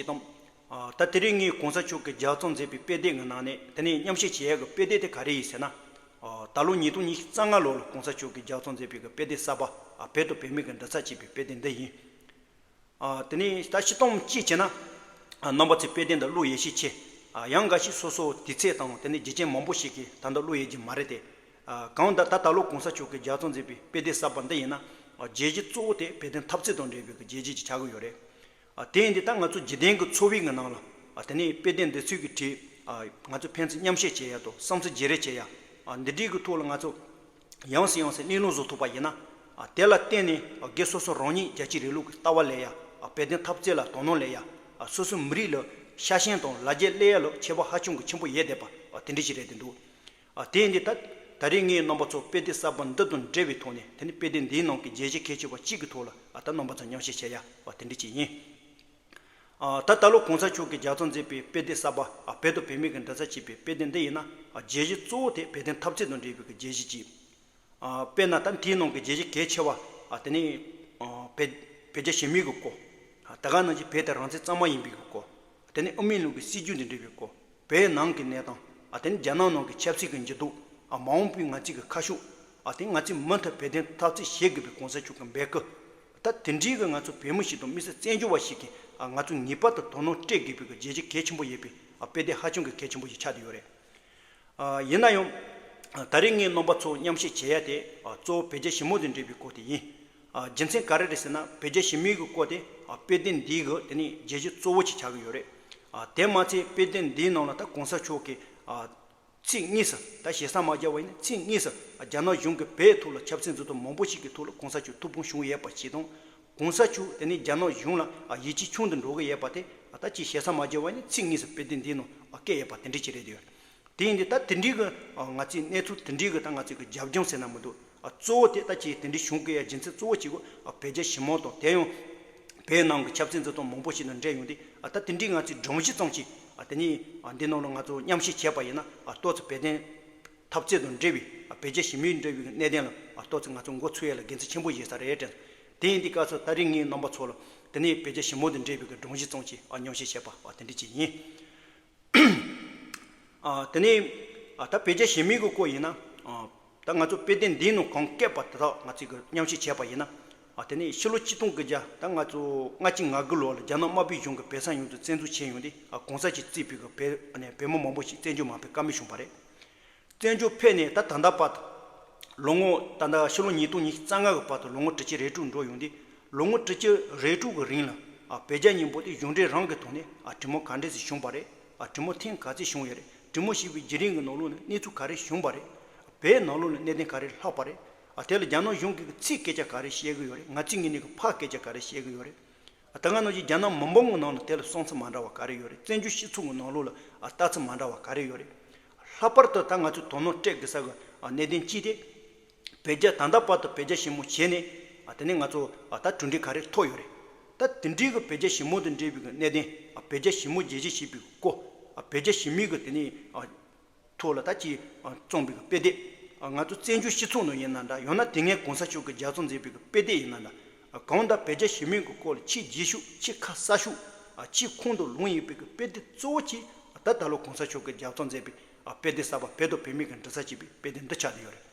ཞེས་དང། ད་དེ་རིང་ངས་གོང་ས་མཆོག་གིས་རྒྱ་གཙང་མཛད་པའི་དཔེ་དེབ་ངའི་ནང་ནས་དེ་ནས་མཉམ་བཤད་བྱེད་ཡག་གི་དཔེ་དེབ་དེ་ག་རེ་ཡིན་ཟེར་ན། ད་ལོ་ཉིས་སྟོང་ཉིས་རྩ་ལྔ་ལོར་ལ་གོང་ས་མཆོག་གིས་རྒྱ་གཙང་མཛད་པའི་གི་དཔེ་དེབ་གསར་པ་བོད་དང་བོད་མིའི་གི་འདྲ་ཚགས་ཅེས་པའི་དཔེ་དེབ་འདི་ཡིན། དེ་ནས་ད་ཕྱི་སྟོང་གཅིག་བྱས་ན། རྣམ་པ་ཚོས་དཔེ་དེབ་འདི་བླུ་ཡས་ཤས་ཆེ། ཡང་འགའ་ཞིག་སོ་སོ་དུས་ཚད་དང་དེ་ནས་རྒྱུ་རྐྱེན་མང་པོ་ཞིག་གིས་ད་འདི་བླུ་ཡས་རྒྱུ་མ་རེད་དེ། གང་ལྟར་ད་ད་ལོ་གོང་ས་མཆོག་གིས་རྒྱ་གཙང་མཛད་པའི་དཔེ་དེབ་གསར་པ་འདི་ཡིན་ན། རྒྱལ་སྤྱི་གཙོ་བོ་དེ་བོད་དོན་འཐབ་རྩོད་དང་འབྲེལ་བའི་གི་རྒྱལ་སྤྱི་ཅིག་ཆགས་ཀྱི་ཡོད་རེད། དེ་ཡིན་དེ་ད་ང་ཚོ་འཇིག་རྟེན་གྱི་འཚོ་བའི་ངང་ནང་ལ་དེ་ནས་དཔེ་དེབ་འདི་ཚོས་ཀྱི་བྲིས་ང་ཚོ་ཕན་ཚུན་མཉམ་བཤད་བྱེད་ཡ་དོ་བསམ་ཚུལ་བརྗེ་རེས་བྱེད་ཡ་འདི་བྲིས་ཀྱི་ཐོག་ལ་ང་ཚོ་ཡང་སྲིད་ཡང་སྲིད་གླེང་སློང་བཟོ་ཐུབ་པ་ཡིན་ན་དེ་ལ་བརྟེན་ནས་སྒེར་སོ་སོ་རང་ཉིད་རྒྱལ་སྤྱིའི་རིང་ལུགས་ཀྱི་ལྟ་བ་ལས་ཡ་བལ་བསྟན་ཐབས་རྩལ་ལ་དོ་སྣང་ལས་ཡ་སོ་སོའི་མི་རིགས་ལ་ཤ་ཞེན་དང་ལ་རྒྱའི་སླད་ཡ་ལ་ཁྱད་པ་ཧ་ཅང་གི་ཆེན་པོ་ཡས་དད་པ་དེ་འདྲ་ཞིག་རེད་དེ་འདུག་ཨ་དེ་འདི་ད། ད་རེས་ངའི་རྣམ་པ་ཚོ་དཔེ་དེབ་གསར་པ་འདི་དང་འབྲེལ་བའི་ཐོག་ནས་དེ་ནི་དཔེ་དེབ་འདིའི་ནང་གི་རྒྱལ་སྤྱིའི་ཁྱད་ཆོས་བ་གཅིག་གི་ཐོག་ལ་ཨ་ད་རྣམ་པ་ཚོ་མཉམ་བཤད་བྱེད་ཡ་བ་དེ་འདྲ་གཅིག་ཡིན། ཨ་ད་ད་ལོ་གོང་ས་མཆོག་གིས་རྒྱ་ཚོགས་མཛད་པའི་དཔེ་དེབ་གསར་པ་ཨ་བོད་དང་བོད་མི་གི་འདྲ་ཚ་བྱེད་པའི་དཔེ་དེབ་འདི་ཡིན་ན་ཨ་རྒྱལ་སྤྱི་གཙོ་བོ་དེ་བོད་དོན་འཐབ་རྩོད་དང་འབྲེལ་བའི་གི་རྒྱལ་སྤྱི་གཅིག་དཔེར་ན་ད་ལྟའི་ནང་གི་རྒྱལ་སྤྱི་གལ་ཆེ་བ་དེ་ནི་བོད་རྒྱ་ཞི་མོལ་གྱི་སྐོར། དེ་ག་ནང་བཞིན་བོད་དེ་རང་བཙན་གཙང་མ་ཡིན་པའི་སྐོར། དེ་ནི་ཨོ་མིན་ལུང་གི་སྲིད་བྱུས་འདི་འབྲི་བའི་སྐོར། བོད་ནང་གི་གནས་སྟངས། དེ་ནི་རྒྱ་ནག་ནང་གི་ཆབ་སྲིད་ཀྱི་འགྱུར་ལྡོག། མ་འོངས་པའི་ང་ཚོས་ཀྱི་ཁ་ཤུགས། དེ་ནི་ང་ཚོས་མུ་མཐུད་བོད་དོན་འཐབ་རྩོད་བྱེད་དགོས་པའི་གོང་ས་མཆོག་གི་འབོད་སྐུལ། ད་དེ་འདྲའི་གི་ང་ཚོ་བོད་མི་ཞིག་དང་དམིགས་བསལ་བཙན་བྱོལ་བ་ཞིག་གིས་ང་ཚོས་ངེས་པར་དུ་དོ་སྣང་སྤྲད་དགོས་པའི་གི་རྒྱལ་སྤྱི་གལ་ཆེན་པོ་ཡོད་པའི་དཔེ་དེ་ཧ་ཅང་གི་གལ་ཆེན་པོ་ཞིག་ཆགས་བསྡད་ཡོད་རེད། ཡིན་ན་ཡང། ད་རེས་ངས་རྣམ་པ་ཚོ་མཉམ་བཤད་བྱེད་ཡ་དེ་གཙོ་བོ་བོད་རྒྱ་ཞི་མོ་དང་འབྲེལ་བའི་སྐོར་དེ་ཡིན། རྒྱུ་མཚན་ག་རེ་རེད་ཟེར་ན་བོད་རྒྱ་ཞི་མོལ་གྱི་སྐོར་དེ་དཔེ་དེབ་འདིའི་གི་དེ་ནི་རྒྱལ་གཞི་གཙོ་བོ་ཞིག་ཆགས་ཀྱི་ཡོད་རེད། དེ་མ་ཚད་དཔེ་དེབ་འདིའི་ནང་ལ་ད་གོང་ས་མཆོག་གིས་ཚིག་གཉིས་སུ་ད་ཞེ་ས་མ་བརྒྱབ་བ་ཡིན་ན་ཚིག་གཉིས་སུ་རྒྱ་ནག་གཞུང་གིས་བོད་ཐུག་ལ་ཆབ་སྲིད་འཛུགས་ཐུབ་མང་པོ་ཞིག་གི་ཐུག་ལ་གོང་ས་མཆོག་ཐུགས་ཕུང་བཞུགས་ཡས་པ་ཞིག་དང་གོང་ས་མཆོག་དེ་ནི་རྒྱ་ནག་གཞུང་ལ་ཡིད་ཆེས་ཆུང་དུ་འགྲོ་གི་ཡས་པ་དེ་ད་ཅི་བྱས་ས་མ་བརྗེ་བ་ནི་ཚིག་ངེས་སུ་དཔེ་དེབ་འདིའི་ནང་བཀལ་ཡས་པ་དེ་འདྲི་གྱི་རེད་དེ་ཡོད་དེ་ཡིན་དུས་ད་དེ་འདྲི་གི་ང་ཚོས་གནས་ཚུལ་དེ་འདྲི་གི་ད་ང་ཚོས་གི་རྒྱབ་ལྗོངས་ཟེར་ན་མི་འདུག་གཙོ་བོ་དེ་ད་ཁྱེད་དེ་འདྲི་བྱུང་གི་ཡས་སྦྱིན་ཚིག་གཙོ་བོ་གཅིག་གོ་བོད་རྒྱ་ཞི་མོལ་དང་དེ་ཡང་བོད་ནང་གི་ཆབ་སྲིད་འཛུལ་སྟངས་མང་པོ་ཞིག་དང་འབྲེལ་ཡོང་དུས་ད་དེ་འདྲི་ང་ཚོས་སྒྲོམ་གཞི་བཙང་གཅིག་དེ་ནི་འདི་ནང་ལ་ང་ཚོ་མཉམ་ཤེས་བྱས་པ་ཡིན་ན་ཏོག་ཙེ་བོད་དོན་འཐབ་རྩོད་དང་འབྲེལ་བའི་བོད་རྒྱ་ཞི་མོལ་འབྲེལ་བའི་གནད་དོན་ལ་ལྟོས་ཚེ་ང་ཚོ་མགོ་ཚོས་ཡ་ལ་འགན་འཁྲི་ཆེན་པོ་བཞེས་ས་རེད་དྲན། དེ་ཡིན་དུས་སྐབས་སུ་ད་རེས་ངས་རྣམ་པ་ཚོ་ལ་དེ་ནས་བོད་རྒྱ་ཞི་མོལ་དང་འབྲེལ་བའི་སྒྲུང་གཞི་རྩོམ་གྱིས་སྙོམས་བཤད་བྱས་པ་དེ་འདྲ་ཅིག་ཡིན། དེ་ནས་ད་བོད་རྒྱ་ཞི་མོལ་གྱི་སྐོར་ཡིན་ན། ད་ང་ཚོ་དཔལ་ལྡན་འདིའི་ནང་གང་བསྐལ་པ་དེ་དག་ང་ཚོས་མཉམ་བཤད་བྱས་པ་ཡིན་ན། དེ་ནས་ཕྱི་ལོ་གཅིག་སྟོང་དགུ་བརྒྱ་ད་ང་ཚོ་ལྔ་གཅིག་ང་དགུ་ལོར་ལ་རྒྱ་ནག་དམར་པོའི་གཞུང་གིས་བོད་ས་ཡོངས་རྫོགས་བཙན་འཛུལ་བྱས་ཡོང་དུས་གོང་ས་ཀྱིས་བརྩིས་པའི་བོད་མི་མང་པོ་ཞིག་བཙན་བྱོལ་མ་ཕེབས་ཀ་མེད་བྱུང་བ་རེད། བཙན་བྱོལ་བོད་ནས་ད་ད་ད་བར་དུ། ལོ་ངོ་ད་ལྟ་ཕྱི་ལོ་ཉིས་སྟོང་ཉིས་རྩ་ལྔ་གི་བར་དུ་ལོ་ངོ་ཁྲི་གཅིག་རེ་དྲུག་འགྲོ་ཡོང་དུས་ལོ་ངོ་ཁྲི་གཅིག་རེ་དྲུག་གི་རིང་ལ་བོད་རྒྱ་གཉིས་པོ་དེ་གཞུང་འབྲེལ་རང་གི་ཐོག་ནས་གྲིམ་མོ་ག་འདྲས་ཟིག་བྱུང་བ་རེད་གྲིམ་མོ་ཐེངས་ག་ཚིག་བྱུང་ཡོད་རེད་གྲིམ་མོ་ཞིག་པའི་རྗེས་རིང་གི་ནོར་ལུག་ནི་གནས་ཚུལ་ག་རེ་བྱུང་བ་རེད་བོད་ནང་ལུག་ནི་གནས་བརྟན་ག་རེ་ལྷག་པ་རེད་དེ་ལ་རྒྱ་ནག་གཞུང་གིས་ཚིག་སྐད་ཆ་ག་རེ་བཤད་གི་ཡོད་རེད་ང་ཚིག་ངན་ནས་ཕག་སྐད་ཆ་ག་རེ་བཤད་གི་ཡོད་རེད་ད་སྔ་ནང་བཞིན་རྒྱ་ནག་མི་འབོམ་གྱི་ནང་ལ་དེ་ལ་གསུང་ཚིག་མ་འདྲ་བ་ག་རེ་ཡོད་རེད་བཙན་བྱོལ་སྤྱི་ཚོགས་ཀྱི་ནང་ལུགས་ལ་ལྟ་ཚུལ་མ་འདྲ་བ་ག་རེ་ཡོད་རེད། ལྷག་པར་དུ་ད་ང་ཚོས་དོ་སྣང་སྤྲད་དགོས་ས་གི་གནད་དོན་གཅིག་དེ། བོད་རྒྱ་ད་ལྟ་བར་དུ་བོད་རྒྱ་ཞི་མོ་བྱས་ནས་དེ་ནས་ང་ཚོ་ད་གྲུ་འགྲིག་ག་རེ་ཐོག་ཡོད་རེད། ད་དེ་འགྲིག་གི་བོད་རྒྱ་ཞི་མོ་དང་འབྲེལ་བའི་གནད་དོན་བོད་རྒྱ་ཞི་མོ་རྒྱལ་སྤྱི་ཞེས་པའི་སྐོར། བོད་རྒྱ་ཞི་མིག་གི་དེ་ནས། ཐུགས་ལ་ད་ཅི། རྩོམ་པའི་དཔེ་དེབ། ང་ཚོ་བཙན་བྱོལ་སྤྱི་ཚོགས་ནང་ཡིན་ན་འདྲ་ཡང་ན་དེ་སྔའི་གོང་ས་མཆོག་གི་རྒྱ་མཚོ་མཛེས་པའི་དཔེ་དེབ་ཡིན་ན་འདྲ། གང་ལྟར་བོད་རྒྱ་ཞི་མོལ་གྱི་སྐོར་ལ་ཕྱིའི་རྗེས་ཤུགས་ཕྱིའི་ཁ་གསལ་ཤུགས། ཕྱིའི་ཁུངས་གཏུགས་ལུང་ཡིན་པའི་དཔེ་དེབ་གཙོ་བོ་གཅིག་ད་ད་ལོ་གོང་ས་མཆོག་གི་རྒྱ་མཚོ་མཛེས་པའི་དཔེ་དེབ་གསར་པ་བོད་དང་བོད་མིའི་དགྲ་ཟ་བྱེད་པའི་དཔེ་དེབ་འདི་ཆགས་བསྡད་ཡོད་རེད།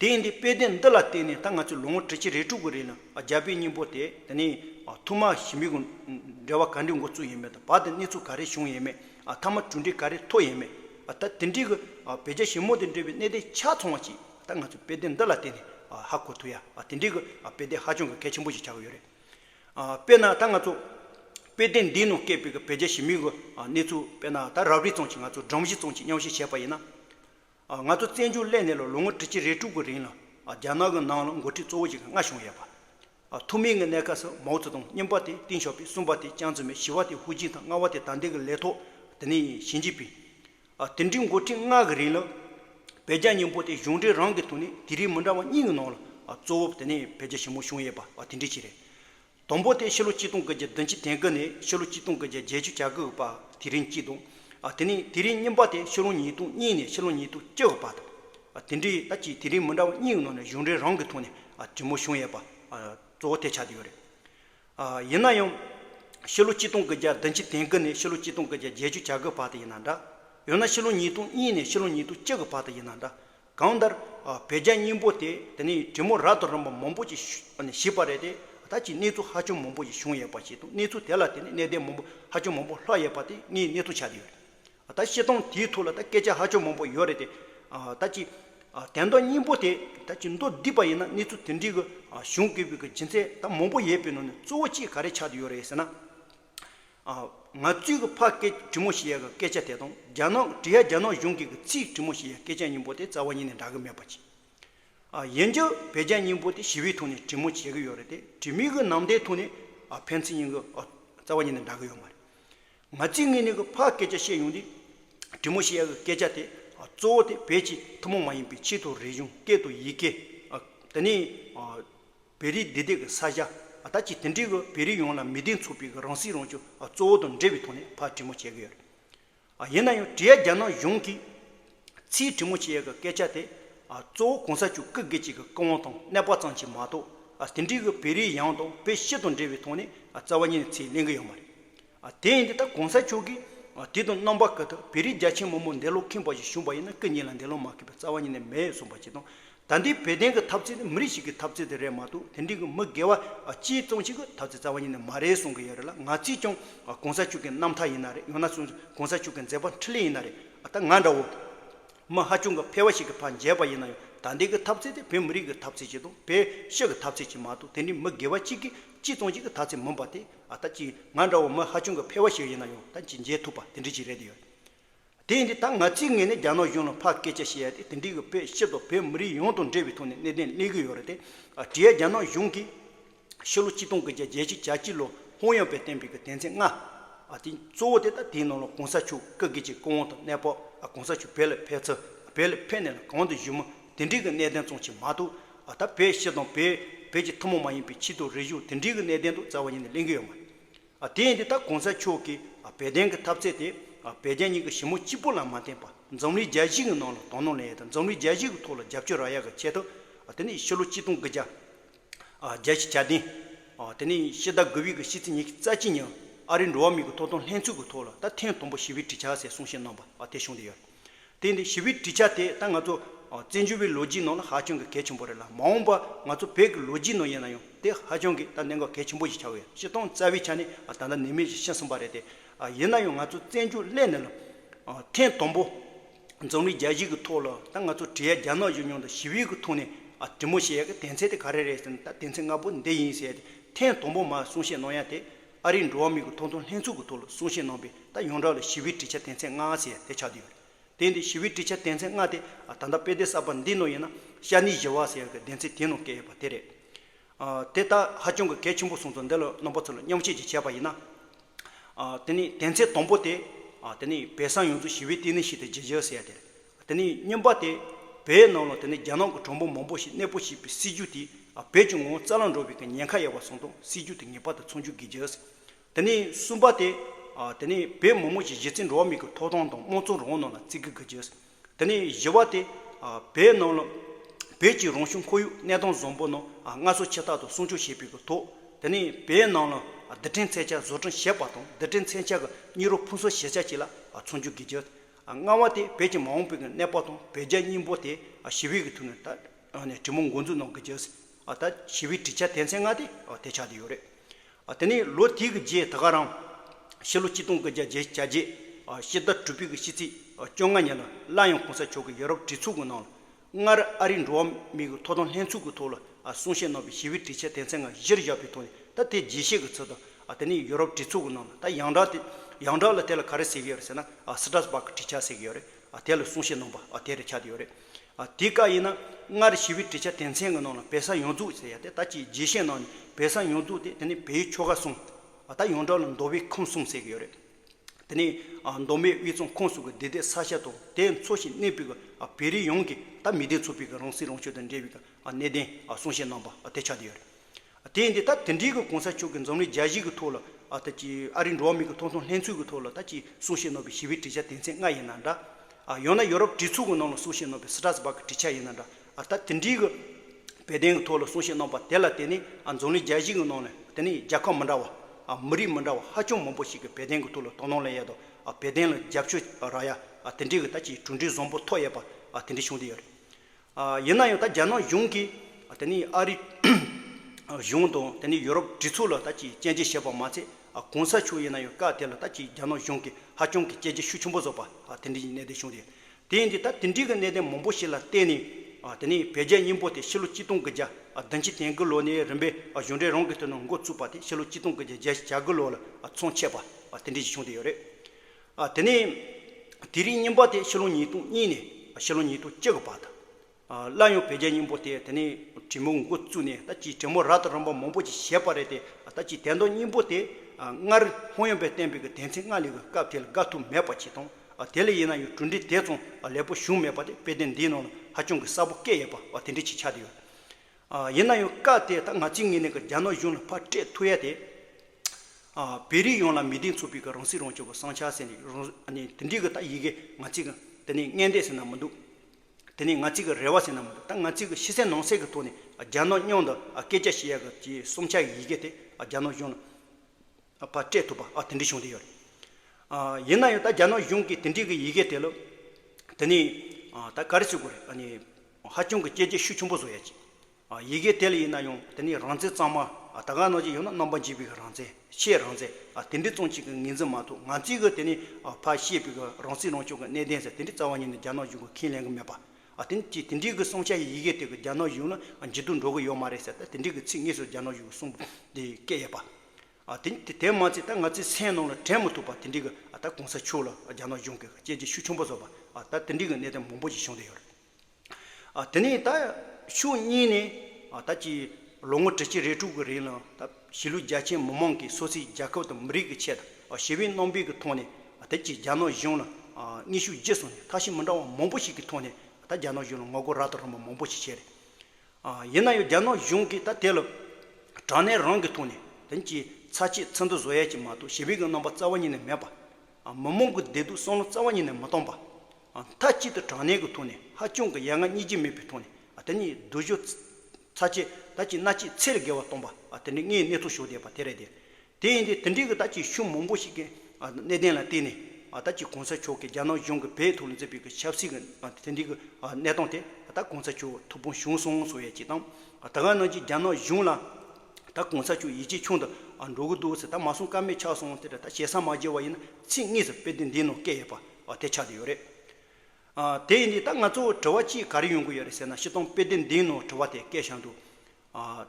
དེ་ཡིན་དུས་དཔེ་དེབ་འདི་ལ་བལྟས་ནས་ད་ང་ཚོས་ལོ་ངོ་ཁྲི་ཆིག་རེ་དྲུག་གི་རིང་ལ་རྒྱ་དཔེ་རྙིང་པོ་དེ་དེ་ནི་ཐུར་མ་ཞི་མི་དགུ་འབྲེལ་བ་ག་འདྲི་འགོ་བཙུགས་ཡོད་མེད་དང་བར་དུ་གནས་ཚུལ་ག་རེ་བྱུང་ཡོད་མེད་མཐའ་མ་གྲུ་འབྲི་ག་རེ་ཐོགས་ཡོད་མེད་ད་དེ་འདྲི་གི་བོད་རྒྱ་ཞི་མོ་དེ་འབྲེལ་བའི་གནད་དེ་ཆ་ཚང་བ་ཞིག་ད་ང་ཚོས་དཔེ་དེབ་འདི་ལ་བལྟས་ནས་ཧ་གོ་ཐུབ་ཡ་དེ་འདྲི་གི་དཔེ་དེབ་ཧ་ཅང་གི་གལ་ཆེན་པོ་ཞིག་ཆགས་ཀྱི་ཡོད་རེད། དཔེར་ན་ད་ང་ཚོ་དཔེ་དེབ་འདིའི་ནང་བཀལ་སྤེལ་གི་བོད་རྒྱ་ཞི་མི་གི་གནས་ཚུལ་དཔེར་ན་ད་རགས་རིས་ཙམ་ཞིག་ང་ཚོས་སྒྲོམ་གཞི་ཙམ་ཞིག་མཉམ་བཞེས་བྱས་པ་ཡིན་ན། ང་ཚོ་བཙན་བྱོལ་གླས་ནས་ལ་ལོ་ངོ་ཁྲི་གཅིག་རེ་དྲུག་གི་རིང་ལ་རྒྱ་ནག་གི་ནང་ལ་མགོ་ཁྲིད་གཙོ་བོ་ཞིག་མངའ་བྱུང་ཡོད་པ། ཐུ་མིང་གི་གནས་སྐབས་སུ་མའོ་ཙེ་ཏུང་སྙིང་པ་དེ་ཏིང་ཞོ་པི་གསུམ་པ་དེ་ཅང་ཙི་མེ་བཞི་བ་དེ་ཧུའུ་ཅིན་ཐང་ལྔ་བ་དེ་དང་ལྡན་གི་ལས་ཐོག་དེ་ནས་ཞིན་ཅིན་ཕིང། དེ་འདྲའི་མགོ་ཁྲིད་ལྔ་གི་རིང་ལ་བལ་རྒྱ་གཉིས་པོ་དེ་གཞུང་འབྲེལ་རང་གི་ཐོག་ནས་དེ་རིགས་མི་འདྲ་བ་གཉིས་ཀྱི་ནང་ལ་གཙོ་བོ་དེ་ནས་བལ་རྒྱ་ཞི་མོ་བྱུང་ཡོད་པ་དེ་འདྲའི་ཆེད་རེད། དང་པོ་དེ་ཕྱི་ལོ་གཅིག་སྟོང་དགུ་བརྒྱ་བདུན་ཅུ་དན་དགུ་ནས་ཕྱི་ལོ་གཅིག་སྟོང་དགུ་བརྒྱ་བརྒྱད་ཅུ་གྱ་དགུ་བར་དེ་རིང་གཅིག་དང། དེ་ནས་དེ་རིང་གཉིས་པ་དེ་ཕྱི་ལོ་ཉིས་སྟོང་གཉིས་ནས་ཕྱི་ལོ་ཉིས་སྟོང་བཅུ་བར་དང། དེ་འདྲའི་ད་ཅིག་དེ་རིང་མི་འདྲ་བ་གཉིས་ཀྱི་ནང་ནས་གཞུང་འབྲེལ་རང་གི་ཐོག་ནས་དྲི་མོ་ཞུ་ཡས་པ་གཙོ་བོ་དེ་ཆགས་ཀྱི་ཡོད་རེད། ཡིན་ན་ཡང། ཕྱི་ལོ་གཅིག་སྟོང་དགུ་བརྒྱ་བདུན་ཅུ་དན་དགུ་ནས་ཕྱི་ལོ་གཅིག་སྟོང་དགུ་བརྒྱ་བརྒྱད་ཅུ་གྱ་དགུ་བར་དུ་ཡིན་ན་འདྲ། ཡང་ན་ཕྱི་ལོ་ཉིས་སྟོང་གཉིས་ནས་ཕྱི་ལོ་ཉིས་སྟོང་བཅུ་གྱི་བར་དུ་ཡིན་ན་འདྲ། གང་ལྟར། བོད་རྒྱ་གཉིས་པོ་དེ་དེ་ནས་དྲི་མོ་ར་དོ་རམས་པ་མང་པོ་ཅིག་ཞིག་པ་རེད་དེ་ད་ཅིག་གནས་ཚུལ་ཧ་ཅང་མང་པོ་ཞིག་བྱུང་ཡོད་པ་ཞིག་དང་གནས་ཚུལ་དེ་ལ་དེ་ནས་གནས་བརྟན་མང་པོ་ཧ་ཅང་མང་པོ་ལྷག་ཡོད་པ་དེ་ངས་གནས་ཐུང་ཆགས་ཀྱི་ཡོད་རེད་ད་ཤེས་སྟངས་དེའི་ཐུགས་ལ་ད་སྐད་ཆ་ཧ་ཅང་མང་པོ་ཡོད་རེད་དེ་ད་ཅིག་དན་མདོ་གཉིས་པོ་དེ་ད་ཅིག་མདོ་སྡིག་པ་ཡིན་ན་གནས་ཚུལ་དེ་འདྲིའི་གཞུང་སྐད་བོད་ཀྱི་སྦྱིན་སྲེག་ད་མང་པོ་ཡོད་པའི་ནང་ནས་གཙོ་བོ་ཅིག་ག་རེ་ཆགས་ཀྱི་ཡོད་རེད་ཟེར་ན། ང་ཚོས་ཀྱི་ཕ་སྐད་དྲི་མོ་ཞེས་ཡ་གི་སྐད་ཆ་དེ་དང་རྒྱ་ནག་གི་དྲི་ཡ་རྒྱ་ནག་གཞུང་གིས་ཀྱི་ཚིག་དྲི་མོ་ཞེས་ཡ་སྐད་ཆ་གཉིས་པོ་དེ་རྩ་བ་ཉིད་ནས་འདྲ་གི་མེད་པ་གཅིག་ཡིན་རྒྱུ་བོད་རྒྱ་གཉིས་པོ་དེ་ཞི་བའི་ཐོག་ནས་དྲི་མོ་བྱེད་ཀྱི་ཡོད་རེད་དེ་དྲི་མེད་ཀྱི་ནང་བསྟན་ཐོག་ནས་ཕན་ཚུན་གཉིས་ཀྱི་རྩ་བ་ཉིད་ནས་འདྲ་གི་ཡོད་མ་རེད། ང་ཚོས་ངེད་གཉིས་ཀྱི་ཕ་སྐད་ཆ་བཤད་ཡོང་དུས་དྲི་མོ་ཞེས་ཡ་གི་སྐད་ཆ་དེ་གཙོ་བོ་དེ་བོད་ཀྱི་ཐུན་མོང་མ་ཡིན་པའི་ཆེད་དུ་རིག་གཞུང་སྐད་དུ་ཡི་གེ་དེ་ནི། བེ་རི་བདེ་སྡུག་གི་ས་ཞག་ད་ཅི་དེ་འདྲའི་གི་བེ་རི་ཡོངས་ལ་མི་བདེན་ཚུགས་པའི་གི་རང་སྲིད་རང་ཆོས་གཙོ་བོ་དང་འབྲེལ་བའི་ཐོག་ནས་ཕར་དྲི་མོ་བྱེད་གི་ཡོད། ཡིན་ན་ཡང་དྲི་ཡ་རྒྱ་ནག་གཞུང་གིས་ཚིག་དྲི་མོ་བྱེད་ཡ་གི་སྐད་ཆ་དེ་གཙོ་བོ་གོང་ས་མཆོག་སྐུ་སྒེར་གཅིག་གི་བཀའ་དབང་དང་གནས་པ་ཙམ་ཞིག་མ་གཏོགས་དེ་འདྲའི་གི་བེ་རི་ཡང་དང་བེ་ཤི་དང་འབྲེལ་བའི་ཐོག་ནས་རྩ་བ་ཉིད་ནས་ཚིག་གླེང་གི་ཡོད་མ་རེད། དེ་ཡིན་དེ་ལྟར་གོང་ས་མཆོག་གིས། དེ་དང་རྣམ་པ་བཀའ་ཐུབ་བེ་རི་རྒྱ་ཆེན་མོ་མོ་འདས་ལོ་ཁེངས་པ་ཞིག་བྱུང་བ་ཡིན་ན་སྐུ་ཉིད་ལ་འདས་ལོ་མ་ཁེངས་པའི་རྩ་བ་ཉིད་ནས་མེད་གསུངས་པ་བྱས་དང། ད་འདིའི་བོད་བསྟན་གྱི་ཐབས་རྩལ་ནི་མི་རིགས་ཤིག་གི་ཐབས་རྩལ་དེ་རེད་མ་གཏོགས་དེ་འབྲིང་གི་མི་དགེ་བ་སྤྱིའི་གཙང་ཆེ་གི་ཐབས་རྩལ་རྩ་བ་ཉིད་ནས་མ་རེད་གསུངས་གི་ཡོད་རེད་ལ་ང་ཚོས་ཀྱང་གོང་ས་མཆོག་གི་རྣམ་ཐར་ཡིན་ན་རེད་ཡང་ན་གསུངས་ཚུལ་གོང་ས་མཆོག་གི་མཛད་པ་འཕྲིན་ལས་ཡིན་ན་རེད་ད་ང་འདྲ་བོ། མི་ཧ་ཅང་གི་ཕལ་བ་ཞིག་གི་ཕར་མཇལ་བ་ཡིན་ན་ཡང་ད་འདིའི་གི་ཐབས་རྩལ་དེ་བོད་མི་རིགས་ཀྱི་ཐབས་རྩལ་ཅིག་དང་བོད་གཞི་གི་ཐབས་རྩལ་ཅིག་མ་གཏོགས་དེ་འབྲིང་མི་དགེ་བ་གཅིག་གིས་སྤྱིའི་གཙང་ཆེ་གི་ཐབས་རྩལ་མིན་པ་དེ། ཨ་ད་ཅི་ང་འདྲ་བོ་མི་ཧ་ཅང་གི་ཕལ་བ་ཞིག་ཡིན་ན་ཡང་ད་ཅི་མཇལ་ཐུབ་པ་དེ་འདྲི་ཅིག་རེད་ཡོད། དེ་ཡིན་དུས་ད་ང་རྩིས་ངེས་ནས་རྒྱ་ནག་གཞུང་ལ་ཕ་སྐད་ཆ་བཤད་ཡ་དེ་དེ་འདྲི་གི་བོད་ཕྱི་དང་བོད་མི་རིགས་ཡོངས་དང་འབྲེལ་བའི་ཐོག་ནས་གནད་དོན་གླེང་གི་ཡོད་རེད་དེ་དྲི་ཡ་རྒྱ་ནག་གཞུང་གིས་ཕྱི་ལོ་གཅིག་སྟོང་གི་བརྒྱད་གཅིག་གྱ་གཅིག་ལོ་ཧོང་ཡང་པའི་གཏན་འབེབས་ཀྱི་དོན་ཚན་ལྔ་ཨ་དེ་གཙོ་བོ་དེ་ད་དེའི་ནང་ལ་གོང་ས་མཆོག་བཀའ་བརྒྱད་ཀྱི་བཀའ་དབང་དང་གནས་སྤོ་ཨ་གོང་ས་མཆོག་བོད་ལ་ཕེབས་ཚུལ་བོད་ལ་ཕེབས་ནས་ལ་གང་དུ་བཞུགས་མོ་དེ་འདྲི་གི་གནད་དོན་བཙོང་ཆེད་མ་གཏོགས་ཨ་ད་བོད་ཕྱི་དང་བོད་བོད་ཀྱི་ཐུན་མོང་མ་ཡིན་པའི་ཕྱི་དུ་རེ་བཞུགས་དེ་འདྲིའི་གི་གནས་བརྟན་དུ་རྩ་བ་ཉིད་ནས་གླེང་གི་ཡོད་མ་རེད། ཨ་དེ་ཡིན་དུས་ད་གོང་ས་མཆོག་གིས་ཨ་བོད་བརྟན་གི་ཐབས་རྩལ་དེ་ཨ་བོད་རྒྱ་གཉིས་གི་ཞི་མོ་གཅིག་པུ་ལ་མ་བརྟེན་པ་འཛོམས་རིས་རྒྱལ་གཞིས་གི་ནང་ལ་དོ་སྣང་ལེན་ཡ་དང་འཛོམས་རིས་རྒྱལ་གཞིས་གི་ཐོག་ལ་རྒྱབ་སྐྱོར་རག་ཡ་གི་ཆེད་དུ་ཨ་དེ་ནི་ཕྱི་ལོ་གཅིག་སྟོང་དགུ་བརྒྱ་ཨ་བརྒྱད་ཕྱི་བྱ་སྟེང་ཨ་དེ་ནི་ཕྱི་ཟླ་དགུ་བའི་གི་ཕྱི་ཚེས་ཉེར་གཅིག་རྩ་ཆེན་ཉིན་ཨ་རིའི་འགྲོ་བ་མིའི་གི་ཐོབ་ཐང་ལྷན་ཚོགས་གི་ཐོག་ལ་ད་ཐེངས་དང་པོ་ཞི་བའི་དྲི་བྱ་ཟེར་གསུང་བཤད་གནང་པ་ཨ་དེ་བྱུང་དེ་ཡོད། དེ་འདི་ཞི་བའི་བྲིས་ཆ་དེ་ད་ང་ཚོ་བཙན་བྱོལ་བའི་ལོ་རྒྱུས་ནང་ལ་ཧ་ཅང་གི་གལ་ཆེན་པོ་རེད་ལ་མ་འོངས་པ་ང་ཚོ་བོད་ཀྱི་ལོ་རྒྱུས་ནང་ཡིན་ན་ཡང་དེ་ཧ་ཅང་གི་ད་གནད་འགག་གལ་ཆེན་པོ་ཞིག་ཆགས་ཡོད་སྤྱི་སྟངས་རྩ་བའི་ཆ་ནས་ད་ལྟ་ནད་མེད་ཞིག་ཕྱིན་སོང་པ་རེད་དེ། ཡིན་ན་ཡང་ང་ཚོ་བཙན་བྱོལ་སླད་ནས་ལ་ཐེངས་དང་པོ་འཛམ་གླིང་རྒྱལ་སྤྱི་གི་ཐོག་ལ་ད་ང་ཚོ་བྲིས་ཡ་རྒྱ་ནག་གཞུང་ཡོངས་དང་ཞི་བའི་གི་ཐོག་ནས་བྲིས་མོ་བྱས་ཡ་གི་གདན་ཚད་དེ་ག་རེ་རེད་ཟེར་ན་ད་གདན་ཚད་ལྔ་པོ་འདི་ཡིན་ཟེར་ཡ་དེ་ཐེངས་དང་པོ་མ་གསུང་བཤད་གནང་ཡ་དེ་ཨ་རིའི་འགྲོ་བ་མིའི་གུ་ཐོག་མཐོ་ལྷན་ཚོགས་ཀྱི་ཐོག་ལ་གསུང་བཤད་གནང་པའི་ད་ཡོང་གྲགས་ལ་ཞི་བའི་གྲི་ཆ་དེ་ཚན་ལྔ་ཟེར་དེ་ཆགས་ཀྱི་ཡོད། དེ་འདི་ཞི་བའི་གྲི་ཆ་དེ་ཚན་ལྔ་དེ་ད་ལྟ་དཔེ་དེབ་གསར་པ་འདིའི་ནང་ཡིན་ན་ཤ་ནི་བཞི་བ་ཟེར་གི་བདེན་ཚིག་དེའི་ནང་བཀལ་ཡོད་པ་དེ་རེད། དེ་ད་ཧ་ཅང་གི་གལ་ཆེན་པོ་སོང་ཙང་འདི་ལ་རྣམ་པ་ཚོ་ལ་མཉམ་བཤད་ཅིག་བྱས་པ་ཡིན་ན། དེ་ནི་བདེན་ཚིག་དང་པོ་དེ། དེ་ནི་བས་སམ་ཡོངས་རྫོགས་ཞི་བའི་ལྟེ་གནས་ཤིག་དེ་བརྗེ་བཞི་ཟེར་དེ་རེད། དེ་ནས་སྨྱོན་པ་དེ་བལ་ནང་ལ་དེ་ནས་རྒྱ་ནང་གི་གྲོང་པ་མང་པོ་ཞིག་གནས་སྤོ་བྱས་པའི་སྲིད་ཇུས་དེ་བལ་གྱི་ངོ་བོ་རྩ་ལ་འགྲོ་བའི་ཉེན་ཁ་ཡལ་བ་སོང་དང་སྲིད་ཇུས་དེ་ངེས་པར་དུ་ཚང་རྒྱུ་དགེ་རྒྱུ། དེ་ནས་གསུམ་པ་དེ་དེ་ནས་བལ་མང་པོ་ཞིག་གཞི་རྩའི་འགྲོ་བ་མི་གི་ཐོག་ཐང་དང་དམངས་གཙོ་རང་ནང་ལ་བརྩི་གི་དགེ་རྒྱུ། དེ་ནས་བཞི་བ་དེ་བལ་ནང་ལ་བལ་གྱི་རང་བྱུང་ཁོར་ཡུག་གནས་སྟངས་བཟང་པོ་ནང་སྔ་སོར་ཕྱི་ཐག་ཏུ་སྲུང་སྐྱོབ་བྱེད་པའི་གི་ཐོག་དེ་ནས་བལ་ནང་ལ་རྡུལ་ཕྲན་ཚད་ཆ་བཟོ་སྐྲུན་བྱེད་པ་དང་རྡུལ་ཕྲན་ཚད་ཆ་གི་སྙི་རུ་ཕུན་སུམ་ཞེ་ཆ་བཅས་ལ་ཚང་རྒྱུ་དགེ་རྒྱུ། ལྔ་བ་དེ་བོད་ཀྱི་མ་འོངས་པའི་གནས་བབ་དང་བོད་རྒྱ་གཉིས་པོ་དེ་ཞི་བའི་ཐོག་ནས་དྲི་མོ་འགོ་འཛུགས་གནང་དགོས་རྒྱུ་ཟད་ཞི་བའི་དྲི་བྱ་དེ་མཚན་སྔ་དེ་ཆགས་ཀྱི་ཡོད་རེད། དེ་ནས་ལོ་དེའི་གི་རྗེས་ད་ག་རང་ཕྱི་ལོ་གཅིག་སྟོང་དགུ་བརྒྱ་བརྒྱད་བྱ་རྗེས་ཕྱི་ཟླ་དྲུག་པའི་གི་ཕྱི་ཚེས་བཅོ་ལྔ་ཉིན་ལ་སླར་ཡང་གོང་ས་མཆོག་གི་ཡོ་རོབ་བྲིས་ཚུགས་གནང་ལ་སྔར་ཨ་རིའི་འགྲོ་བ་མིའི་གི་ཐོབ་ཐང་ལྷན་ཚོགས་ཀྱི་ཐོག་ལ་གསུང་བཤད་གནང་བའི་ཞི་བའི་དྲི་ཆ་དེ་ཚད་ང་གཞིར་བཞག་པའི་ཐོག་ནས་ད་དེ་རྒྱས་བཤད་ཀྱི་ཚུལ་དང་དེ་ནས་ཡུ་རོབ་གྲི་ཚོགས་ཀྱི་ནང་ལ་ད་ཡང་དྲག་ཡང་དྲག་ལ་དེ་ལ་ག་རེ་ཟེར་གྱི་ཡོད་རེད་ཟེར་ན Stress Bug གི་དྲི་ཆ་ཟེར་གྱི་ཡོད་རེད་དེ་ལ་གསུང་བཤད་གནང་པ་དེ་རེད་ཆགས་ཀྱི་ཡོད་རེད། དེ་ཀ་ཡིན་ན་སྔར་ཞི་བའི་དྲི་ཆ་དེ་ཚད་ཀྱི་ནང་ལ་བལ་ས་ཡོངས་རྫོགས་ཟེར་ཡ་དེ་ད་ཅིག་རྒྱས་བཤད་གནང་ནས་བལ་ས་ཡོངས་རྫོགས་དེ་དེ་ནས་བལ་ཡུལ་ཆོལ་ཁ་གསུམ་ད་ཡོངས་གྲགས་ལ་མདོ་བའི་ཁམས་གསུམ་ཟེར་གྱི་ཡོད་རེད། དེ་ནས་མདོ་སྨད་དབུས་རྫོང་ཁོངས་སུ་གི་བདེ་ལྡན་ས་ཆ་དང་དེའི་མཚོ་བཞིན་གནས་སྤོས་ཀྱི་བེ་རི་ཡོངས་ཀྱི་ད་མི་དེ་ཚོ་བེ་གི་རང་སྲིད་རང་ཆོས་དང་འབྲེལ་བའི་གི་གནད་བདེན་གསུང་བཤད་གནང་པ་དེ་ཆགས་བསྡད་ཡོད་རེད། དེ་ཡིན་དེ་ད་དེ་འབྲེལ་གི་གོང་ས་མཆོག་གི་འཛམ་གླིང་རྒྱལ་གཞིས་ཀྱི་ཐོག་ལ་ད་ཀྱི་ཨ་རིའི་འགྲོ་བ་མི་གི་ཐོག་མཐོང་ལྷན་ཚུགས་ཀྱི་ཐོག་ལ་ད་ཀྱི་གསུང་བཤད་གནང་པའི་ཞི་བའི་གྲི་ཆ་དེ་མཚན་ལྔ་ཡིན་ན་འདྲ། ཡང་ན་ཡོ་རོབ་གྲི་ཚུགས་ཀྱི་ནང་ལ་གསུང་བཤད་གནང་པའི་སི་ཏྲ་སྦག་གི་གྲི་ཆ་ཡིན་ན་འདྲ། ད་ལྟ་དེ་འདྲིའི་གི་བལ་གདན་གི་ཐོག་ལ་གསུང་བཤད་གནང་པ་དེ་ལ་བརྟེན་ནས་རྫོང་ལས་རྒྱ་གཞིས་གི་ནང་ལ་དེ་ནས་རྒྱལ་ཁབ་མི་འདྲ་བ། མི་རིགས་མི་འདྲ་བ་ཧ་ཅང་མང་པོ་ཞིག་གི་བལ་གདན་གི་ཐོག་ལ་དོ་སྣང་ལ་ཡས་དང་བལ་གདན་ལ་རྒྱབ་ཆོས་རག་ཡ་དེ་འདྲིའི་གི་ད་ཅིའི་གྲུ་འདྲིའི་བཟང་པོ་ཐོག་ཡས་པ་དེ་འདྲིའི་བྱུང་དེ་ཡོད་རེད། ཡིན་ན་ཡང་ད་རྒྱ་ནག་གཞུང་གི་དེ་ནས་ཨ་རི་གཞུང་དང་དེ་ནས་ཡུ་རོབ་གྲི་ཚོགས་ལ་ད་ཅིའི་དཔྱད་འཇལ་བྱས་པ་མ་ཚད་གོང་ས་མཆོག་ཡིན་ན་ཡང་སྐབས་དེ་ལ་ད་ཅིའི་རྒྱ་ནག་གཞུང་གི་ཧ་ཅང་གི་དཔྱད་འཇལ་ཤུགས་ཆེན་པོ་བཟོ་པ་དེ་འདྲིའི་གནད་དོན་བྱུང་དེ་ཡོད། དེ་འདི་ལྟར་དེ་འབྲེལ་གྱི་གནད་དོན་མང་པོ་ཞིག་ལ་བལྟས་ནས། དེ་ནས་བལ་རྒྱལ་སྙིང་པོ་དེ་ཕྱི་ལོ་གཅིག་སྟོང་དགུ་བརྒྱ་བདུན་ཕྱི་ཟླའི་དགུ་ལོ་ནས་རིམ་པས་གཞུང་འབྲེལ་རང་གི་དོན་དུ་འགོ་བཙུགས་པ་དེ་ཕྱི་ལོ་གཅིག་སྟོང་དགུ་བརྒྱ་བརྒྱད་ཞེ་གྱ་དགུ་ལོ་ལ་མཚུངས་ཆད་པ་དེ་འདྲའི་ཞིག་བྱུང་བསྡད་ཡོད་རེད། དེ་ནས་དེ་རིང་སྙིང་པོ་དེ་ཕྱི་ལོ་ཉིས་སྟོང་གཉིས་ནས་ཕྱི་ལོ་ཉིས་སྟོང་གཅིག་གི་བར་དུ། སླར་ཡང་བལ་རྒྱལ་སྙིང་པོ་དེས་དེ་ནས་དྲིན་མོ་མགོ་བཙུགས་ནས་ད་ཅིའི་དྲིན་མོ་ར་ད་རོན་པ་མང་པོ་ཅིག་བཞེས་པ་རེད་དེ་ད་ཅིའི་དད་མདོ་སྙིང་པོ་དེས་སྔར་ཧོང་ཡོན་པའི་བསྟན་པའི་གི་དན་ཚིག་སྔགས་ལས་གི་སྐབས་དེ་ལ་དགའ་ཐུབ་མེད་པ་ཅིག་དང་དེ་ལས་ཡིན་ན་ཡང་གྲུ་འདི་དེ་ཙམ་ལེགས་པོ་བྱུང་མེད་པ་དེ་དཔེ་དེབ་འདིའི་ནང་ལ་ཧ་ཅང་གི་གསལ་པོ་བཀལ་ཡོད་པ་དེ་འདྲས་ཅིག་ཆགས་བསྡད་ཡོད། ཡིན་ན་ཡང་སྐབས་དེ་ད་ང་ཚོའི་ངེས་ནས་གི་རྒྱ་ནག་གཞུང་ལ་ཕར་སྤྲད་ཐུབ་ཡས་དེ། བོད་རིགས་ཡོངས་ལ་མི་སྡིངས་ཚུགས་པའི་གི་རང་སྲིད་རང་སྐྱོབ་གི་བསང་ཆ་ཟེར་ནས་རང་དེ་འདྲས་གི་ད་ཡི་གེ་ང་ཚིག་དེ་ནས་རྔན་བསྡད་ཟེར་ན་མི་འདུག། དེ་ནི་ང་གཅིག་གི་རེ་བ་ཞིག་ན་མི་འདུག་ད་ང་གཅིག་གི་ཤི་སྲེག་ནང་སྲེག་གི་ཐོག་ནས་རྒྱ་ནག་རྙོག་འདི་སྐད་ཆ་བཤད་ཡག་གི་ཅེས་གསུམ་ཆ་གི་ཡི་གེ་དེ་རྒྱ་ནག་གཞུང་ལ་པར་སྤྲད་ཐུབ་པ་དེ་འདྲའི་བྱུང་བསྡད་ཡོད་རེད། ཡིན་ན་ཡང་ད་རྒྱ་ནག་གཞུང་གིས་དེ་འདྲའི་གི་ཡི་གེ་དེ་ལ་དེ་ནི་ད་ག་རེ་བྱེད་དགོས་རེད། ཧ་ཅང་གི་སྐད་ཆ་ཤུགས་ཆེན་པོ་བཟོ་ཡག་ཅིག་ཡི་གེ་དལ་ཡིན་ན་ཡང་དེ་ནི་རང་རྩལ་གཙང་མ། ད་ག་ནོར་ཅིག་ཡོད་ན་རྣམ་པ་འབྱེད་པའི་རང་རྩལ། ཤེས་རང་རྩལ། དེ་འདྲའི་ཙོང་ཅིག་གི་ངེས་འཛིན་མ་ཐུག་ང་ཚིག་གི་དེ་ནི་ཕ་ཤེས་པའི་རང་སྲིད་རང་སྐྱོང་གི་གནད་དན་ཟེར་དེ་འདྲའི་རྩ་བ་ཉིད་ནི་རྒྱ་ནག་གཞུང་གི་ཁས་ལེན་གི་མེད་པ། དེ་ནི་དེ་འདྲའི་གི་གསུང་ཆ་ཡིས་ཡི་གེ་དེ་གི་རྒྱ་ནག་གཞུང་ལ་འཇིག་ཏུ་འགྲོ་གི་ཡོད་མ་རེད་ཟེར་ད་དེ་འདྲའི་གི་ཚིག་ངེས་སུ་རྒྱ་ནག་གཞུང་གི་གསུང་དེ་སྐད་ཡས་པ། དེ་ནི་དེ་མ་ཚིག་ད་ང་ཚིག་སེམས་ནང་ལ་དྲན་མི་ཐུབ་པ་དེ་འདྲའི་གི་ད་གོང་ས་མཆོག་ལ་རྒྱ་ནག་གཞུང་གི་དཔྱད་གཞི་ཤུགས་ཆུང་པོ་བཟོ་པ། ད་དེ་འདྲའི་གི་གནད་དན་མང་པོ་ཞིག་བྱུང་དུ་ཡོད་རེད། དེ་ནས་ད་ཕྱོགས་གཉིས་ནས་ད་ཀྱི་ལོ་ངོ་དྲུག་ཅུ་རེ་དྲུག་གི་རིང་ལ་ད་གཞིས་ལུས་རྒྱ་ཆེའི་མི་མང་གིས་སོ་སོའི་རྒྱལ་ཁབ་དང་མི་རིགས་ཀྱི་ཆེད་དང་ཞི་བའི་རྣམ་པའི་གི་ཐོག་ནས་ད་ཀྱི་རྒྱ་ནག་གཞུང་ལ་སྙན་ཞུ་རྗེས་སུ་ནས་ཐ་ཤི་མི་འདྲ་བ་མང་པོ་ཞིག་གི་ཐོག་ནས་ད་རྒྱ་ནག་གཞུང་ལ་ངོ་རྒོལ་ར་དང་རིང་པོ་མང་པོ་ཞིག་བྱས་རེད། ཡིན་ན་ཡང་རྒྱ་ནག་གཞུང་གིས་ད་དེ་ལ་དྲང་གནས་རང་གི་ཐོག་ནས་ད་ཀྱི་ཚ་ཆེད་ཚིག་མདོ་བཟོ་ཡ་ཅིག་མ་གཏོགས་ཞི་བའི་གི་རྣམ་པ་རྩ་བ་ཉིད་ནས་མེད་པ། མི་མང་གི་བདེ་སྡུག་བསམ་བློ་རྩ་བ་ཉིད་ནས་མི་བཏང་པ། མཐའ་གཅིག་ཏུ་དྲང་གནས་ཀྱི་ཐོག་ནས་ཧ་ཅང་གི་ཡ་ང་སྙིང་རྗེ་མེད་པའི་ཐོག་ནས་དེ་ནི་བསྡུ་བཞུ། ཚ་ཆེ་ད་ཅིག་སྣ་ཆེ་ཚེར་བརྒལ་བ་སྟོང་པ་དེ་འདྲའི་ལྔའི་གནས་ཚུལ་ཞོགས་བསྡད་པ་དེ་རེད་དེ། དེ་ཡིན་དུས་དེ་འདྲའི་གི་ད་ཅིག་ཤུགས་མང་པོ་ཞིག་གི་གནད་དོན་ལ་བརྟེན་ནས་ད་ཅིག་གོང་ས་མཆོག་གིས་རྒྱ་ནག་གཞུང་གི་བེད་ཐུག་ལ་འཛིན་པའི་གི་ཆབ་སྲིད་གི་དེ་འདྲའི་གི་གནས་སྟངས་དེ་ད་གོང་ས་མཆོག་ཐུགས་ཕུང་བྱུང་སོང་ཟེར་བའི་ཅིག་དང། ད་ག་ནང་གི་རྒྱ་ནག་གཞུང་ལ་ད་གོང་ས་མཆོག་ཡིད་ཆེས་ཆུང་དུ་འགྲོ་གི་འདུག་ཟེར་ད་མ་སོང་ཀ་མེད་ཆགས་སོང་དེ་འདྲ་ད་བྱས་ས་མ་བྱས་བ་ཡིན་ན་ཚིག་ངེས་སུ་དཔེ་དེབ་འདིའི་ནང་བཀལ་ཡོད་པ་ཨ་དེ་ཆགས་ཀྱི་ཡོད་རེད། ཨ། དེ་ཡིན་དུས་ད་ང་ཚོ་དྲི་བ་གཅིག་ག་རེ་ཡོང་གི་ཡོད་རེད་ཟེར་ན་ཤི་སྟོང་དཔེ་དེབ་འདིའི་ནང་དྲི་བ་དེ་བཀལ་བཞག་འདུག་ཨ།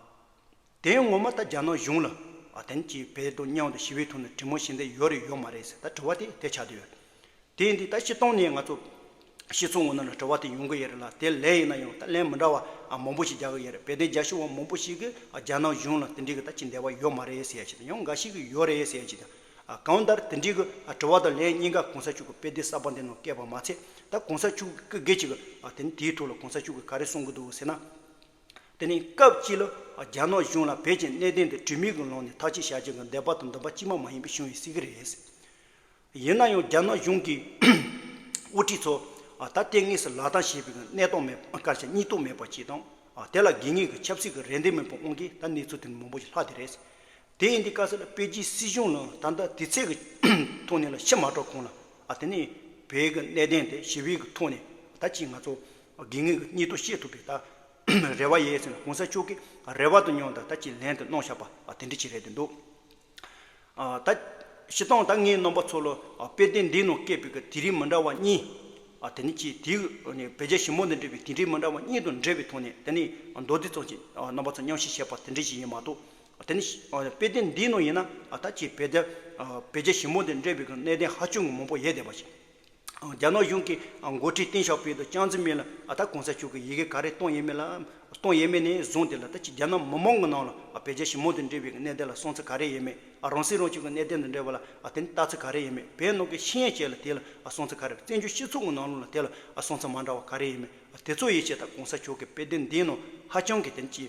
དེ་ངོ་མ་ད་རྒྱ་ནག་གཞུང་ལ་ཨ་དེང་གིས་བལ་དང་མཉམ་དུ་ཞི་བའི་ཐོག་ནས་དྲི་མོ་བྱེད་འདོད་ཡོད་རེད་ཡོད་མ་རེད་ཟེར་ད་དྲི་བ་དེ་དེ་ཆགས་ཀྱི་ཡོད། དེ་ཡིན་དུས་ད་ཤི་སྟོང་ནས་ང་ཚོ་ཤི་ཚོ་ངོ་ན་ལ་དྲི་བ་དེ་ཡོང་གི་ཡོད་རེད་ལ་དེ་ལས་ཡིན་ན་ཡང་ད་ལན་མི་འདྲ་བ་ཨ་མང་པོ་ཞིག་རྒྱག་གི་ཡོད་རེད་དཔེ་དེབ་རྒྱག་ཤི་བ་མང་པོ་ཞིག་གིས་ཨ་རྒྱ་ནག་གཞུང་ལ་དེ་འདྲི་གི་ད་ཅི་འདས་པ་ཡོད་མ་རེད་ཟེར་ཡ་ཞིག་དང་ཡང་འགའ་ཞིག་གིས་ཡོད་རེད་ཟེར་ཡ་ཞིག་དང། གང་ལྟར་དེ་འདྲིའི་གི་དྲི་བ་དང་ལན་གཉིས་ཀ་གོང་ས་མཆོག་གི་དཔེ་དེབ་གསར་པ་འདི་ནང་བཀལ་བ་མ་ཚད་ད་གོང་ས་མཆོག་གི་སྐུ་སྒེར་གྱི་གི་དེ་ནི་དེའི་ཐོག་ལ་གོང་ས་མཆོག་གིས་ག་རེ་གསུང་གི་འདུག་ཟེར་ན། དེ་ནི་སྐབས་གཅིག་ལ་རྒྱ་ནག་གཞུང་ལ་བོད་ཀྱི་གནད་དོན་དེ་དྲི་མིག་གི་ལོང་ནས་ཐག་གཅོད་བྱ་རྒྱུ་གི་འདོད་པ་དང་འདུན་པ་གཅིག་མ་མ་ཡིན་པའི་བྱུང་བའི་སྲིད་གི་རེད། ཡིན་ན་ཡང་རྒྱ་ནག་གཞུང་གི་དབུ་ཁྲིད་ཚོ་ད་ལྟའི་གནས་སུ་ལག་བསྟར་བྱེད་པའི་གི་གནད་སྟངས་མེད་སྐར་ཆ་གཉིས་སྟོང་མེད་པ་གཅིག་དང་དེ་ལ་དགེ་རྙིང་གི་ཆབ་སྲིད་གི་རེ་འདུན་མེད་པ་དབང་གིས་ད་གནས་ཚུལ་དེ་ནི་མང་པོ་ཞིག་ལྷག་དེ་རེད། དེ་ཡིན་དུས་དཀའ་ཚེགས་ལ་པེ་ཅིན་སྲིད་གཞུང་ནང་ད་ལྟ་དུས་ཚོད་ཀྱི་ཐོག་ནས་ལ་ཕྱི་མ་གྲོགས་གོང་ལ་དེ་ནས་བོད་ཀྱི་གནད་དོན་དེ་ཞི་བའི་ཐོག་ནས་ད་ཅིག་ང་ཚོ་དགེ་ངེས་ཀྱི་གཉིད་ཐོ་ཤེས་ཐུབ་པའི་ད་རེ་བ་ཡས་ཟེར་ན་གོང་ས་མཆོག་གིས་རེ་བ་དུ་མྱོང་ད་ད་ཅིག་ལན་དུ་གནོང་ཤག་པ་དེ་འདྲི་ཅིག་རེད་དུ་འདུག་ད་ཕྱི་སྟངས་ད་ངའི་རྣམ་པ་ཚོ་ལ་དཔེ་དེབ་འདི་ནང་བཀད་པའི་དེ་རིང་མི་འདྲ་བ་གཉིས་དེ་ནས་ཅིག་དེ་ནས་བོད་རྒྱ་ཞི་མོ་འདི་འབྲེལ་བའི་དེ་འབྲེལ་མི་འདྲ་བ་གཉིས་དང་འབྲེལ་བའི་ཐོག་ནས་དེ་ནས་མདོ་སྡེ་ཙམ་ཞིག་རྣམ་པ་ཚོ་མཉམ་ཞིག་བྱས་པ་དེ་འདྲི་ཅིག་ཡིན་མ་གཏོགས་དེ་ནི་དཔེ་ལྡན་འདིའི་ནང་ཡིན་ན་ད་ཆའི་བལ་རྒྱ་བལ་རྒྱ་ཞི་མོ་དེ་འདྲེས་པའི་གནས་བརྟན་ཧ་ཅུང་མང་པོ་ཡལ་བསྡད་པ་ཞིག་རྒྱ་ནག་གཞུང་གི་མགོ་ཁྲིད་ཏིན་ཞའོ་པེ་དང་ཅང་ཙི་མིན་ལ་ད་གོང་ས་མཆོག་གི་ཡི་གེ་ག་རེ་གཏོང་ཡས་མེད་ལ་གཏོང་ཡས་མེད་ནས་བཟུང་དེ་ལ་ད་ཆའི་རྒྱ་ནག་མི་མང་གི་ནང་ལ་བལ་རྒྱ་ཞི་མོ་དེ་འདྲེས་པའི་གནས་བརྟན་ལ་སོང་ཚུལ་ག་རེ་ཡས་མེད་རང་སྲིད་རང་སྐྱོང་གི་གནས་བརྟན་དང་འབྲེལ་བ་ལ་དེ་ནི་ལྟ་ཚུལ་ག་རེ་ཡས་མེད་བལ་ནང་གི་ཤི་ཡན་ཅལ་ལ་དེ་ལ་སོང་ཚུལ་ག་རེ་བཙན་བྱོལ་སྤྱི་ཚོགས་ཀྱི་ནང་ལུགས་ལ་དེ་ལ་སོང་ཚུལ་མ་འདྲ་བ་ག་རེ་ཡས་མེད་དེ་ཚོ་ཡིད་ཆེས་ད་གོང་ས་མཆོག་གི་དཔེ་ལྡན་འདིའི་ནང་ཧ་ཅང་གི་དེ་ནི་ཅི།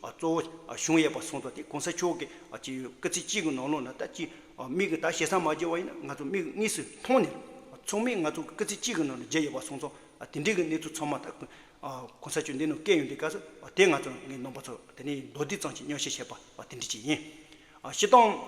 གཙོ་བོ་གཞུང་ཡས་པ་གསུང་དོགས་དེ་གོང་ས་མཆོག་གི་སྤྱི་ཡོན་སྐུ་ཚེ་གཅིག་གི་ནང་ལོགས་ན་ད་ཅི་མིག་གི་ད་ཞེ་སངས་མ་བརྗེ་བ་ཡིན་ན་ང་ཚོ་མིག་གཉིས་སུ་མཐོང་ནས་ཚོགས་མི་ང་ཚོ་སྐུ་ཚེ་གཅིག་གི་ནང་ལ་བརྗེ་ཡོད་པ་གསུང་སོང་དེ་འདྲིའི་གི་གནས་ཚུལ་ཚང་མ་ད་གོང་ས་མཆོག་འདི་ནང་བཀལ་ཡོང་དུས་ཀ་ཚོད་དེ་ང་ཚོ་ངའི་ནང་པ་ཚོ་དེ་ནས་མདོ་སྡེ་གཙང་ཆེ་སྨྱོ་བཤད་བྱས་པ་དེ་འདྲི་ཅིག་ཡིན། ཤི་སྟངས་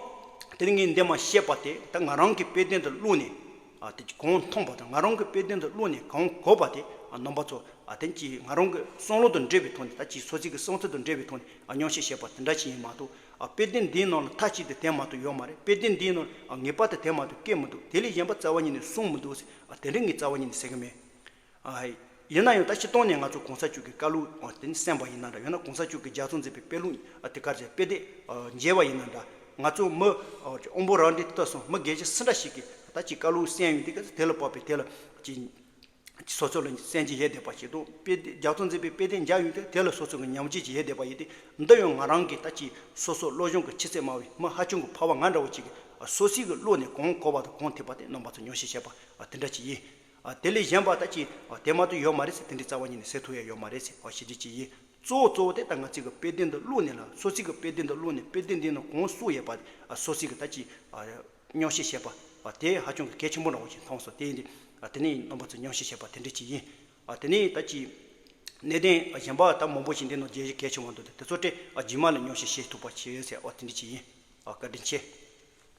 དེར་ངས་འདས་མ་ཤེས་པ་དེ་ད་ང་རང་གི་དཔེ་དོན་དུ་བླུགས་ནས་གང་མཐོང་པ་དང་ང་རང་གི་དཔེ་དོན་དུ་བླུགས་ནས་གང་གོ་བ་དེ་ནང་པ་ཚོ་དེ་གཅིག་ང་རང་གི་སང་ལོ་དང་འབྲེལ་བའི་ཐོག་ནས་ད་གཅིག་སོ་ཚིག་གི་སང་ཚིག་དང་འབྲེལ་བའི་ཐོག་ནས་ཉམས་ཞིབ་བྱས་པ་དེ་འདྲ་ཞིག་ཡིན་མ་གཏོགས་དཔེ་དོན་འདིའི་ནང་ལ་མཐའ་གཅིག་ཏུ་དེ་མ་གཏོགས་ཡོད་མ་རེད་དཔེ་དོན་འདིའི་ནང་ལ་ངེས་པར་དུ་དེ་མ་གཏོགས་སྐད་མི་འདུག་དེ་ལས་གཞན་པ་རྩ་བ་ཉིད་ནས་གསུངས་མི་འདུག་ཟེར་དེ་འདྲ་ངས་རྩ་བ་ཉིད་ནས་ཟེར་གི་མེད། ཡིན་ན་ཡང་ད་ཕྱི་སྟོང་ནས་ང་ཚོ་གོང་ས་མཆོག་གི་བཀའ་ལུང་དེ་ནི་གསན་པ་ཡིན་ན་འདྲ་ཡང་ན་གོང་ས་མཆོག་གི་རྒྱ་མཚོ་མཛེས་པའི་དཔེ་ལུང་དེ་གར་ཆེད་དཔེ་དེབ་མཇལ་བ་ཡིན་ན་འདྲ་ང་ཚོ་མི་དབང་པོ་རང་འདྲའི་ལྟ་སོང་མི་དགེ་བྱེད་སུ་འདྲ་ཞིག་གིས་ད་ཅི་བཀའ་ལུང་གསན་ཡོད་འདི་ག་དེ་ལ་བབ་པའི་དེ་ལ་ཅི་སོ་སོ་ལ་གསན་ཅི་ཡས་བསྡད་པ་ཞིག་དང་དཔེ་དེབ་རྒྱ་མཚོ་མཛེས་པའི་དཔེ་དེབ་མཇལ་ཡོད་འདི་ག་དེ་ལ་སོ་སོ་གི་ཉམས་ཅི་ཡས་བསྡད་པ་ཡིན་ཏེ་འདི་ཡང་ང་རང་གིས་ད་ཅི་སོ་སོ་བློ་སྦྱོང་གི་ཆེ་ཚད་དམའ་བའི་མི་ཧ་ཅང་གི་འཕར་བ་ང་འདྲ་བོ་ཅིག་གིས་སོ་སྲིད་ཀྱི་བློ་ནས་གང་གོ་བ་དང་གང་ཐེབས་པ་དེ་རྣམས་པ་ཚོ་ཉོ་བཤད་བྱས་པ་དེ་འདྲ་ཅིག་ཡིན། དེ་ལས་གཞན་པ་ད་ཅི་དེ་མ་ཏུ་ཡོད་མ་རེད་ཟེར་དེ་འདྲའི་རྩ་བ་ཉིད་ནས་ཟེར་ཐུ་ཡ་ཡོད་མ་རེད་ཟེར་ཞེ་ཅི་ཅི་ཡིན་གཙོ་བོ་གཙོ་བོ་དེ་ད་ང་ཚིག་གི་དཔེ་དེ་འདི་བླུགས་ནས་ལ་སོ་ཚིག་གི་དཔེ་དེ་འདི་བླུགས་ནས་དཔེ་དེ་འདི་ནི་གོང་བསུ་ཡས་པ་སོ་ཚིག་གི་ད་ཅི་སྙོག་བཤད་བཤད་པ་དེ་ཧ་ཅང་གི་གལ་ཆེན་པོ་འདྲ་བོ་ཞིག་མཐོང་སོང་དེ་ཡིན་དེ་དེ་ནས་རྣམ་པ་ཚོས་སྙོག་བཤད་བཤད་པ་དེ་འདྲའི་ཅི་ཡིན་དེ་ནས་ད་ཅི་གནས་བརྟན་གཞན་པ་ད་མང་པོ་ཞིག་འདི་ནང་རྒྱལ་གལ་ཆེ་བ་འདུག་དེ་ཚོ་སྤྲད་རྗེས་མ་ལ་སྙོག་བཤད་བཤད་ཐུབ་པ་བྱས་ཡོད་ཟེར་བ་དེ་འདྲའི་ཅི་ཡིན་བཀའ་དྲིན་ཆེ།